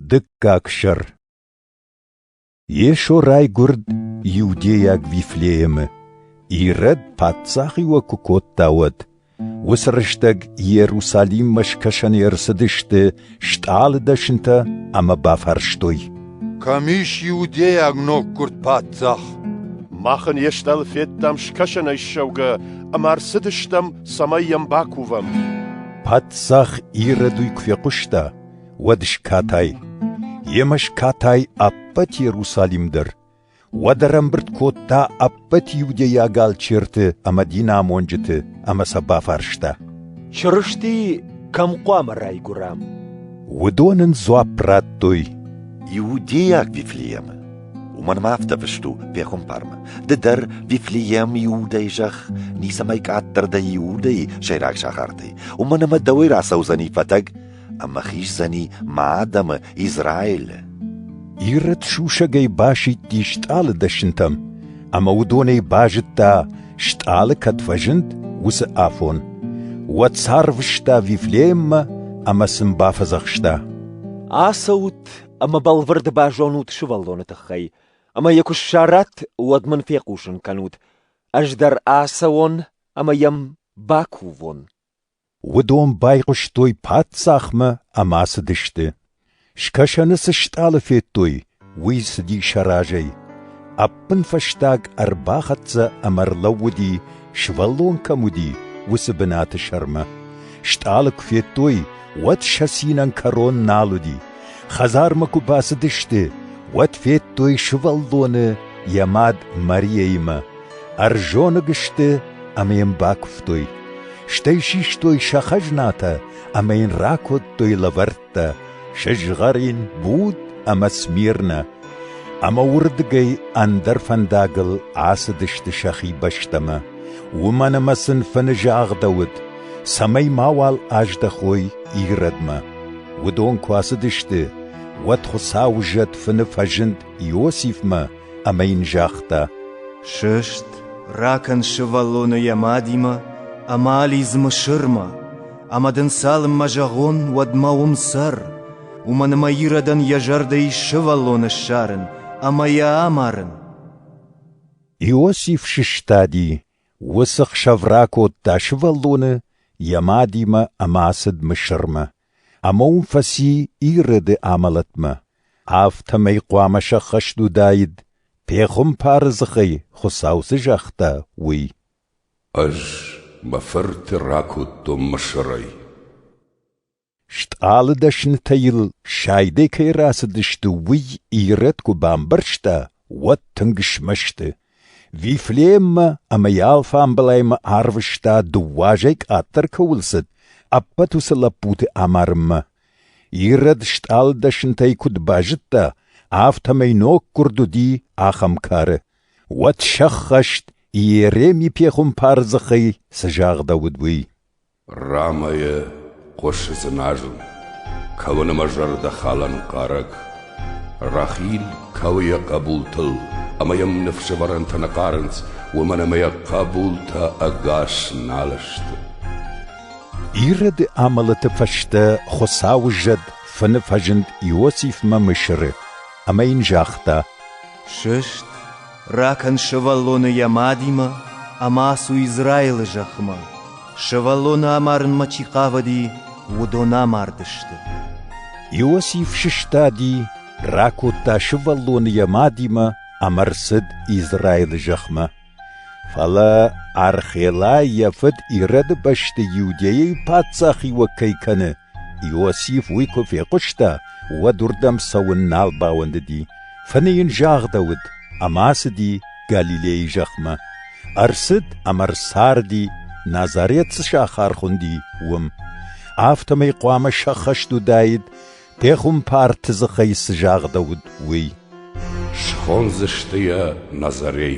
Дыккаг сӕр Йесо райгуырд Иудейаг Вифлеемы, Ирод паддзахи уӕ куы кодта, уӕд. Уыцы рӕстӕг Иерусалиммӕ скӕсӕны ӕрцыдысты стъалы дӕсынтӕ ӕмӕ бафарстой. «Кӕм ис иудейаг ноггуырд паддзах?» «Мах ын йе стъалы федтам скӕсӕнӕй ссӕугӕ ӕмӕ ӕрцыдыстӕм, цӕмӕй йӕм бакувӕм». Паддзах Ирод уый куы фехъуыста, уӕд скатай. Йемӕ скатай ӕппӕт Иерусалим дӕр. Уӕд ӕрӕмбырд кодта ӕппӕт иудейаг алчерты ӕмӕ динамонджыты ӕмӕ сӕ бафарста. Чырысти кӕм хъуамӕ райгуырам? Уыдон ын дзуапп радтой. Иудейаг Вифлеемы. Уымӕн ма афтӕ фыст у пехуымпармӕ. Ды дӕр, Вифлеем, иудӕй зӕхх, ницӕмӕй къаддӕр дӕ иудӕй, сӕйраг сахартӕй. Уымӕн ӕмӕ дӕуӕй рацӕудзӕни фӕтӕг, ӕмӕ хиздзӕни мӕ адӕмы Израилы. Ирод сусӕгӕй басидти стъалы дӕсынтӕм, ӕмӕ уыдонӕй базыдта, стъалы кӕд фӕзынд, уыцы афон. Уӕд сарвыста Вифлееммӕ ӕмӕ сын бафӕдзӕхста. Ацӕут ӕмӕ бӕлвырд базонут сывӕллоны тыххӕй, ӕмӕ йӕ куы ссарат, уӕд мын фехъусын кӕнут. Ӕз дӕр ацӕуон ӕмӕ йӕм бакувон. Уыдон байхъуыстой паддзахмӕ ӕмӕ цыдысты. Скӕсӕны цы стъалы федтой, уый цыди сӕ разӕй. Ӕппынфӕстаг ӕрбахӕццӕ ӕмӕ ӕрлӕууыди, сывӕллон кӕм уыди, уыцы бынаты сӕрмӕ. Стъалы куы федтой, уӕд сӕ цинӕн кӕрон нал уыди. Хӕдзармӕ куы бацыдысты, уӕд федтой сывӕллоны йӕ мад Марияимӕ. Ӕрзоныг сты ӕмӕ йын бакуывтой, стӕй систой сӕ хӕзнатӕ ӕмӕ йын ракодтой лӕвӕрттӕ, сызгъӕрин, буд ӕмӕ смирнӕ, ӕмӕ уырдыгӕй ӕндӕр фӕндагыл ацыдысты сӕхи бӕстӕмӕ, уымӕн ӕмӕ сын фыны загъдӕуыд, цӕмӕй мауал аздӕхой Иродмӕ. Уыдон куы ацыдысты, уӕд Хуыцауы зӕд фыны фӕзынд Иосифмӕ ӕмӕ йын загъта: «Сыст, ракӕн сывӕллоны йӕ мадимӕ ӕмӕ алидз Мысырмӕ, ӕмӕ дын цалынмӕ зӕгъон, уӕдмӕ уым цӕр, уымӕн ӕмӕ Иродӕн йӕ зӕрдӕ ис сывӕллоны ссарын ӕмӕ йӕ амарын». Иосиф сыстади, уыцы хсӕв ракодта сывӕллоны йӕ мадимӕ ӕмӕ ацыд Мысырмӕ. ӕмӕ уым фӕци Ирыды амӕлӕтмӕ, афтӕмӕй хъуамӕ сӕххӕст уыдаид, пехуымпары дзыхӕй Хуыцау цы загъта, уый. Ӕз мӕ фырты ракодтон Мысырӕй. Стъалы дӕснытӕ йыл сайдӕй кӕй рацыдысты, уый Ирод куы бамбӕрста, уӕд тынг смӕсты, Вифлееммӕ ӕмӕ йӕ алфамбылаймӕ арвыста, дыууӕ азӕй къаддӕр кӕуыл цыд, ӕппӕт уыцы лӕппуты амарынмӕ. Ирод стъалыдӕсынтӕй куыд базыдта, афтӕмӕй ноггуырд уыди ахӕм кары. Уӕд сӕххӕст, Иереми пехуымпары дзыхӕй цы загъдӕуыд, уый. Рамӕйы хъуысы дзыназын, кӕуын ӕмӕ зӕрдӕхалӕн хъарӕг. Рахил кӕуы йӕ хъӕбултыл, ӕмӕ йӕм ныфсӕвӕрӕнтӕ нӕ хъарынц, уымӕн ӕмӕ йӕ хъӕбултӕ ӕгас нал сты. Ироды амӕлӕты фӕстӕ Хуыцауы зӕд фыны фӕзынд Иосифмӕ Мысыры, ӕмӕ йын загъта: «Сыст, Ракӕн сывӕллоны йӕ мадимӕ ӕмӕ ацу Израилы зӕхмӕ. Сывӕллоны амарынмӕ чи хъавыди, уыдон амардысты. Иосиф сыстади, ракодта сывӕллоны йӕ мадимӕ ӕмӕ рцыд Израилы зӕхмӕ. Фӕлӕ Архелай йӕ фыд Ирӕды бӕсты Иудӕйӕйы паддзахиуӕг кӕй кӕны, Иосиф уый куы фехъуыста, уӕд уырдӕм цӕуын нал бауӕндыди. Фыны йын загъдӕуыд ӕмӕ ацыди Галилейы зӕхмӕ. Ӕрцыд ӕмӕ ӕрцарди, Назарет цы сахар хуынди, уым. Афтӕмӕй хъуамӕ сӕххӕст уыдаид, пехуымпарты дзыхӕй цы загъдӕуыд, уый. Схондзысты йӕ Назарей.